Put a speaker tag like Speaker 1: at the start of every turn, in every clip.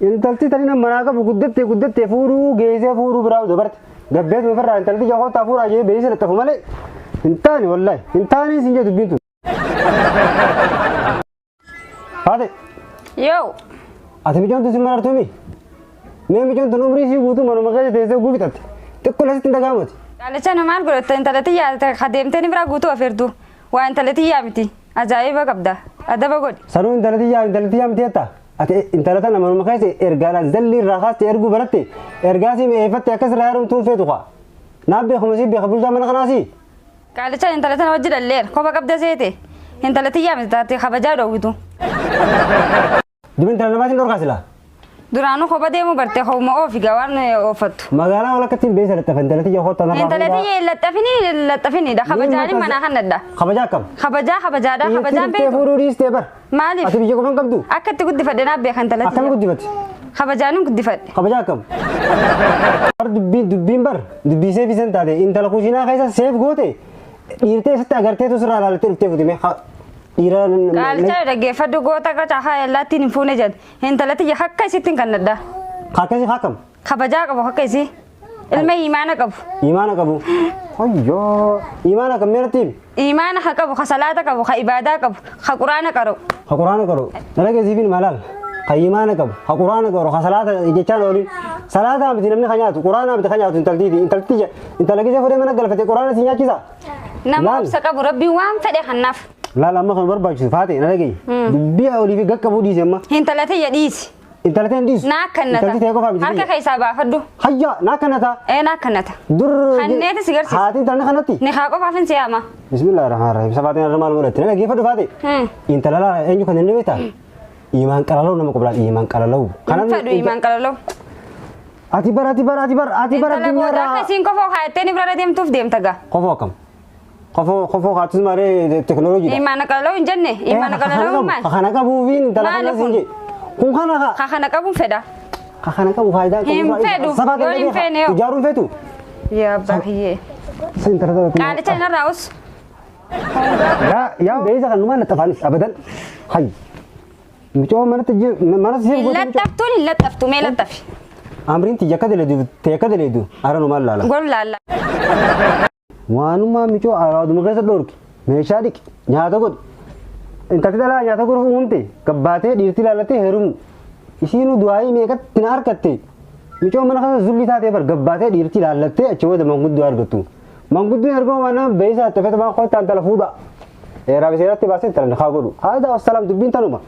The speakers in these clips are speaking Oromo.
Speaker 1: Intalti tani nama manaa qabu guddattee guddattee fuudhuu geessee fuudhuu biraa dabarte. Gabbeetu ofirraa intalti ija kootaa fuudhaa jee beeksisa laxxafu malee hin taane wallaahi hin taane isin jee dubbiin tun. Haate Yoo.
Speaker 2: ati
Speaker 1: micoon tun si marartuu mi? Mee micoon tun umrii ishii guutuu manuma keessa teessee oguu fixatte. Xiqqoo lasitti hin dhaga'amati. Dhaalicha nu maal
Speaker 2: godhatta intalati yaadata ka deemtee ni biraa guutuu ofeertu. Waa intalati yaa miti. Ajaa'iba qabda. Adaba godhi. Sanuu intalati yaa
Speaker 1: intalati yaa miti jettaa? Ati intala tana manuma keessa ergaadhaan zallii irraa kaaste erguu baratte ergaa sii mi'eeffatte akkas irraa heerumtu hin feetu kaa. Naaf beekuma sii beeka bulchaa mana kanaa sii. Qaalichaan
Speaker 2: intala tana wajji dhalleera. Koba qabda seete. Intala tiyyaa miti taate kabajaa dhoowwitu. Dubin
Speaker 1: intala namaatiin dhorkaa silaa. Duraanuu koba
Speaker 2: deemuu bartee kobuma oofi gaa waan ooffattu. Magaalaa walakkatti hin
Speaker 1: beessa laxxafa intala tiyya kootta narraa Intala fuudhaa. tiyya hin laxxafini
Speaker 2: hin laxxafini dha. Kabajaan manaa kan nadha. Kabajaa akkam? Kabajaa
Speaker 1: kabajaadha.
Speaker 2: Kabajaan Dhiirti beektu. fuudhuu dhiistee bar.
Speaker 1: Maaliif? Ati biyya qofa hin
Speaker 2: qabdu?
Speaker 1: Akka itti guddifadhe naaf
Speaker 2: beekan Akkam talatti. guddifatti?
Speaker 1: Kabajaanin guddifadhe.
Speaker 2: Kabaja akkam?
Speaker 1: Bar dubbiin dubbiin bar dubbii seef isan taate intala kushiinaa keessa seef goote dhiirtee isatti agarteetu sirraa ilaaltee dhuftee futime ha dhiira Qaalchaa
Speaker 2: dhaggeeffadhu goota qacaa haa yallaattiin hin fuune jedhe. Intalatti yakka isittiin kannadha. akkasii akkam?
Speaker 1: Kabajaa qabu akka
Speaker 2: isii. Ilma imaana qabu. Imaana qabu.
Speaker 1: Hoyyoo. Imaana kan meeratti himi? Imaana ha qabu, ha
Speaker 2: salaata qabu, ha ibaadaa qabu, ha quraana qara'u. Ha quraana qaru.
Speaker 1: Dhalageessiifin malaal. Ha imaana qabu. Ha quraana qaru. Ha salaata jechaan oolin. Salaataa miti namni ka nyaatu. Quraanaa miti ka nyaatu intaltiiti. Intalti ja- intala gisee fudhee mana galfate quraana si nyaachisa. Nama Laal. obsa
Speaker 2: qabu rabbiin waan fedhe kannaaf. Laal amma kan
Speaker 1: barbaachisu faate na dhagayi. Dubbii olii fi gaqqabuu dhiise amma. Hintala tiyya dhiisi.
Speaker 2: Intala ta'e hin dhiisu.
Speaker 1: Naa akkannata. Intalti ta'e qofa
Speaker 2: miti. Harka
Speaker 1: keessaa baafadhu.
Speaker 2: Hayyaa naa akkannata.
Speaker 1: Ee naa akkannata.
Speaker 2: Dur. Hanneeti
Speaker 1: si garsiisa.
Speaker 2: Haati intalli kanatti. Ni
Speaker 1: haa qofaaf hin siyaama.
Speaker 2: Bismillah rahmaan rahim.
Speaker 1: Safaatiin irra maal godhatti? Nama geeffadhu faate. Hmm. Intala laa eenyu kan inni beektaa? Imaan qalaloo nama qublaan imaan qalaloo. Hin fedhu imaan
Speaker 2: qalaloo. Ati
Speaker 1: bara ati bara ati bara ati bara Intala booda addunyaarraa. akkasiin kofoo
Speaker 2: kaayattee ni bira deemtuuf deemta gaa. Qofoo akkam?
Speaker 1: Kofoo kofoo kaatus maaree teknooloojiidha. Imaana qalaloo hin jenne
Speaker 2: imaana qalaloo maal? Kana qabuufiin intala
Speaker 1: Maali kana kun? siin jedhe. Kun kana kaa. Ka kana qabuun fedha.
Speaker 2: Ka kana qabu
Speaker 1: faayidaa qabu. Hin faayidaa- fedhu. Sabaa Yoo hin
Speaker 2: fedhe yoo. Ijaaruun feetu.
Speaker 1: Yaa abbaa
Speaker 2: kiyyee. Siin intala kana.
Speaker 1: Qaalicha hin arraa'us.
Speaker 2: Yaa
Speaker 1: yaa beeysa kan numaan laxafaanis abadan. Hayyi. Mucoo manatti jiru mana siif Hin gootee mucoo. laxxaftuun hin laxxaftu
Speaker 2: mee laxxafi. Amriin tiyya akka
Speaker 1: daleedu tee akka daleedu haala numaan laala. Gol laalla. Waanumaa micoo araaduma keessa dhorki meeshaa dhiqi nyaata godhi. Intalti dhalaa nyaata godhuuf uumamte gabbaatee dhiirti ilaallattee heerumu. Isiinuu du'aayii meeqatti na harkatte. Micoo mana keessa zulli taatee bar gabbaatee dhiirti ilaallattee achi booda manguddoo argattu. Manguddoon erga waan nama beeysa haxxe fete waan kottaan tala fuudha. Eeraa biseeratti baasee talan haa godhu. Haadaa wassalaam dubbiin tanuma.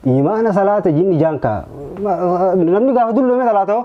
Speaker 1: Imaana salaata jinni jaankaa. Namni gaafa dulloome salaata hoo?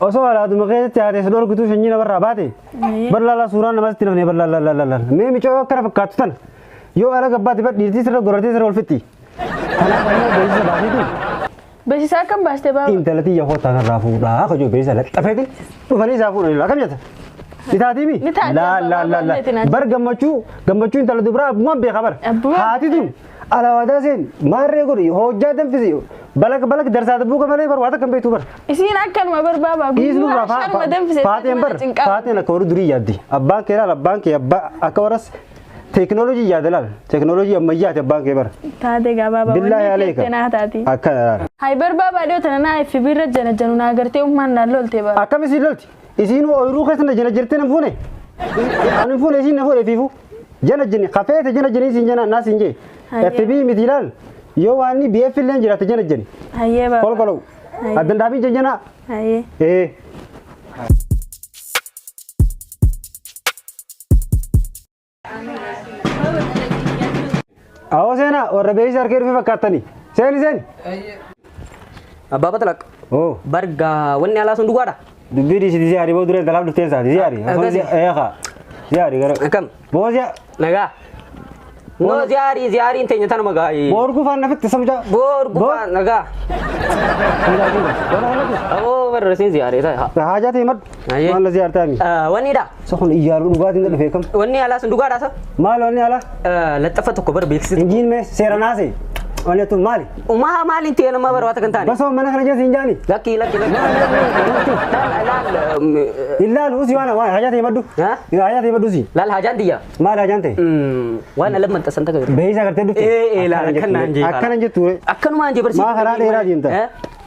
Speaker 1: Osoo alaaduma keessatti haatee si dhorkituu shanyii namarraa baate bal'aalaa suuraa namatti hin hafne bal'aalaalaalaa mee micoo yoo akkana fakkaattu tana yoo ala gabbaatti bar dhiirtii sirra gorratee sirra olfitti. Kanaaf ammoo beeksisa baasiitiin Beeksisaa akkam
Speaker 3: baaste baaba? intala tiyya kootaa narraa
Speaker 1: fuudhaa kajoo beeksisa laxxafeetiin dhufanii isaa fuudhanii akkam jetta. Ni taatiimi? Ni taati, Laa abbaa laa laa baay'eetiin laa. ati. Bar gammachuu gammachuu intala dubaraa abbumaan beeka bar. Abbumaan? Haati tun Alawaadaa seen maarree godhi hojjaa danfisi balak balak darsaa dabbuu kan malee bar waa takka hin beektu bar. Isiin akkanuma
Speaker 3: barbaabaa Dhiisnu guyyaa irraa sharma
Speaker 1: danfise faateen bar cinqaa. faateen akka warri durii yaaddi abbaan kee laal abbaan kee abbaa akka warras teekinooloojii yaada laal teekinooloojii ammayyaati abbaan kee bar. Taate gabaabaa
Speaker 3: Billaa wanni yaaleeka. jettee naa
Speaker 1: taati. Akkana laal. Hay barbaabaa
Speaker 3: dhiyoo tana naa FB irra jana janu naa gartee ummaan naa lolte bara. Akkam isiin lolti
Speaker 1: isiin ooyiruu keessa na jana jirtee nan fuune. Ani fuune isiin na fuune fiifu. Jana jini kafee te jana jini sin jana na sin je. Aye. FB miti lal. Yo wani BF len jira te jana jini. Ayyee baaba. Kol kolu. Aye.
Speaker 3: Adan
Speaker 1: dabi jana jana. Ayyee. Eh. Awoo seenaa warra beeksisa harkee dhufee fakkaattanii. Seeni seeni.
Speaker 4: Abbaa Batalaq. Oo. Bargaa
Speaker 1: wanni
Speaker 4: alaa sun dhugaadha. Dubbii dhiisiti siyaari
Speaker 1: boo dureen talaaf dhuftee isaati siyaari. Akkasi. Eeqa. Siyaari gara. Akkam. Boo siya.
Speaker 4: Nagaa. Noo ziyaarii ziyaariin teenya tanuma gaa'ii. Boo urguu faana fitti samja.
Speaker 1: Boor gubaa
Speaker 4: nagaa. Aboo barra siin ziyaaree ta'a. Haajaa ta'e maddu.
Speaker 1: Ayyee. Maal lazii artaami? Wanni dha. Isa kun
Speaker 4: iyyaaru dhugaatiin
Speaker 1: gad dhufee kam? Wanni alaa sun dhugaadha sa?
Speaker 4: Maal wanni ala?
Speaker 1: Laxxaffa tokko bar
Speaker 4: beeksisa. Injiin mee seera naase.
Speaker 1: Wanni tun maali? Umaa maaliin ta'e nama
Speaker 4: bar waata kan taane. Basoo mana kana jeessa hin jaani.
Speaker 1: Lakki lakki lakki.
Speaker 4: Laal laal.
Speaker 1: Hin laalu usi waan waan hajaa ta'e maddu. Ha? Yoo hajaa ta'e maddu
Speaker 4: usi. Laal
Speaker 1: hajaan tiyya. Maal
Speaker 4: hajaan ta'e?
Speaker 1: Waan ala
Speaker 4: maxxansan takka. Beeyisa agartee dhufte. Ee ee
Speaker 1: laal akkanaan
Speaker 4: jee. Akkanan jettu.
Speaker 1: Akkanumaan jee barsiisa. Maa
Speaker 4: karaa dheeraa deemta?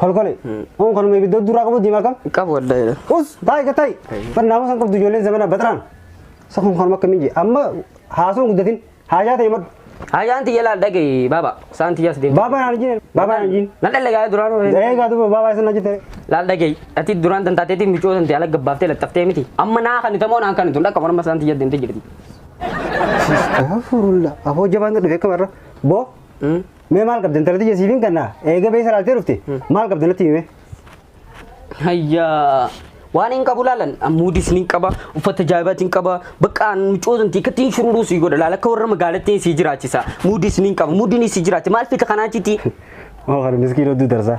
Speaker 1: kolkole on kanuma ibidda duraa qabu diimaa kam qabu wallahi us
Speaker 4: taa'e ka taa'e
Speaker 1: bar naamusan qabdu ijoolleen zamana baxraan sa kun kanuma akka minji amma haasuun guddatin haajaa ta'e madhu Hajaan tiyya laal
Speaker 4: dhaga'i baaba saan tiyyaas deemu. baabaa naan jiin baabaa naan
Speaker 1: jiin Nan dhaga'a duraan hore.
Speaker 4: eegaa duuba baabaa isin
Speaker 1: na jette Laal dhaga'i ati
Speaker 4: duraan tantaateetii micoo tantee ala gabbaaftee laxxaftee miti. Amma naa kan itamoo naan kan itun dhaqqa morma saan tiyya deemtee jirti.
Speaker 1: afurulla afoo jabaan dhufe akka barra boo Mee maal qabda intala tiyya siifin kanna eega beessa laaltee dhufte maal qabda natti hime.
Speaker 4: Hayyaa. Waan hin qabu laalan muudis ni qaba uffata jaabaati hin qaba bakka mucoosumti akkatti hin shururuu si godha laala akka warra magaalattii si jiraachisa muudis ni qaba muudin si jiraachi maal fita kanaa achitti. Moo kana
Speaker 1: miskiin odduu darsaa.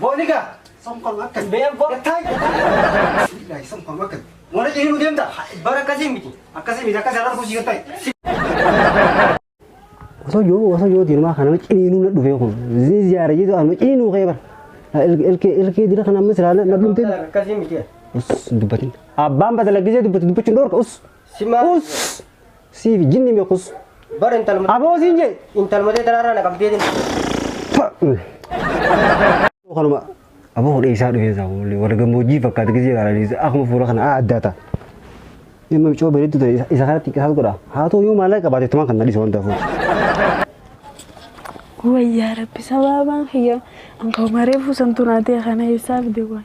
Speaker 1: Booniga. Somkon akka. Beeyan boo. Gattaan. Ilaahi somkon akka. Moora jirii nu deemta. Bara akkasii miti.
Speaker 5: Akkasii miti
Speaker 1: akkasii irra fuusii gattaa. Osoo yoo osoo yoo diimaa kana ciniinuu na dhufee kun ziyaara jedhu amma ciniinuu kee bara. Ilkee ilkee dira kana amma siraan na dhumte. Akkasii
Speaker 5: miti. Us dubbatin.
Speaker 1: Abbaan batala gisee dubbatu dubbachuun dhoorka us. Simaa. Us. Siifi jinni meequs. Bara intalma. Aboo
Speaker 5: siin jee. Intalma
Speaker 1: ta'e tanarraa na
Speaker 5: qabdeetiin.
Speaker 1: Kanuma aboo hodhee isaa dhufee isaa kunuun warra gammoojjii fakkaata gisee ilaalanii akkuma fuula kana adda ta'a. Dhimma bicoo bareedduu ta'e isa- isa kanatti qisaas godha. Haa ta'u yoo maallaqa qabaate tumaan kan na dhiisu waan ta'eef.
Speaker 3: Wayyaa rabbi sababaan kiyya anka umaree fuusantu naatee kana eessaaf deewan.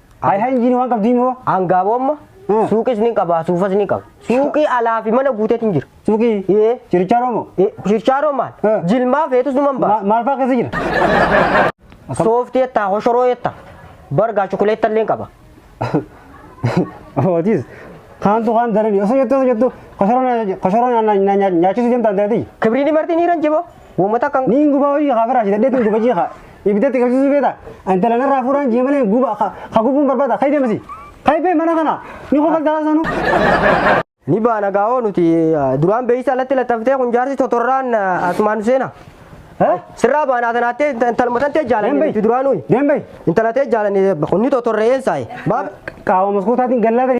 Speaker 1: Hay hay injiin waan qabdii moo? Angaabomma Hmm.
Speaker 5: suuqis ni qaba suufas ni qaba. Suuqii alaa fi mana guuteetu hin jira. Suuqii Ee.
Speaker 1: chirichaa roomo. Eh, Shirchaaroo maal?
Speaker 5: Hmm. Jilmaa feetus numan Ma- baasa. Maal fa'aa keessa jira? Sooftii jettaa hoshoroo jettaa. Bargaa chukuleetta illee qaba.
Speaker 1: Hootis. Kaantu kaan darani osoo jettu osoo jettu koshoroo nyaachisuu deemtaan ta'eeti. Kibriin marti ni ranjiboo.
Speaker 5: Woma takka ni hin gubaa hojii haa firaashe
Speaker 1: dadhee tun gubachii haa ibiddatti qabsiisuu beeta intala narraa fuudhaan jee malee guba haa gubuun barbaada kayi deemasi kayi bee mana kana ni kofaltaa sanuu.
Speaker 5: Ni baana gaa'oo nuti duraan beeysa alatti laxxaftee kun jaarsi totorraan asumaan nu seena. Sirraa baanaa tanaattee intaluma tantee jaalanne duraan nuyi. Deembay. Intala tee
Speaker 1: jaalanne
Speaker 5: kunni totorree eensaayi. Qaawwa
Speaker 1: maskuutaatiin gallaata.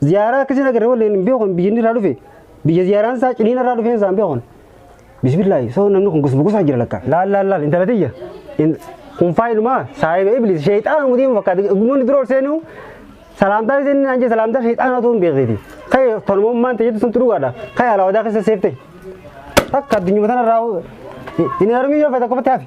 Speaker 1: Ziyaaraa akkasiin agarre wallee hin beekon biyya inni irraa dhufe biyya ziyaaraan isaa ciniina irraa dhufeen isaa hin beekon. Bismillaahi soo namni kun gosa gosaa jira lakka. Laal laal laal intala tiyya. In- Kun faayilumaa saayiba iblis sheexaana mutii hin fakkaate gummoonni dura ol seenuu salaamtaa isheen inni naan jee salaamtaa sheexaana otoo hin beekneeti. Ka'e tolummaan ta'e jettu sun dhugaadha. Ka'e alaawadaa keessa seeftee. Takka addunyaa tanarraa hin armii yoo fedha kophaatti hafi.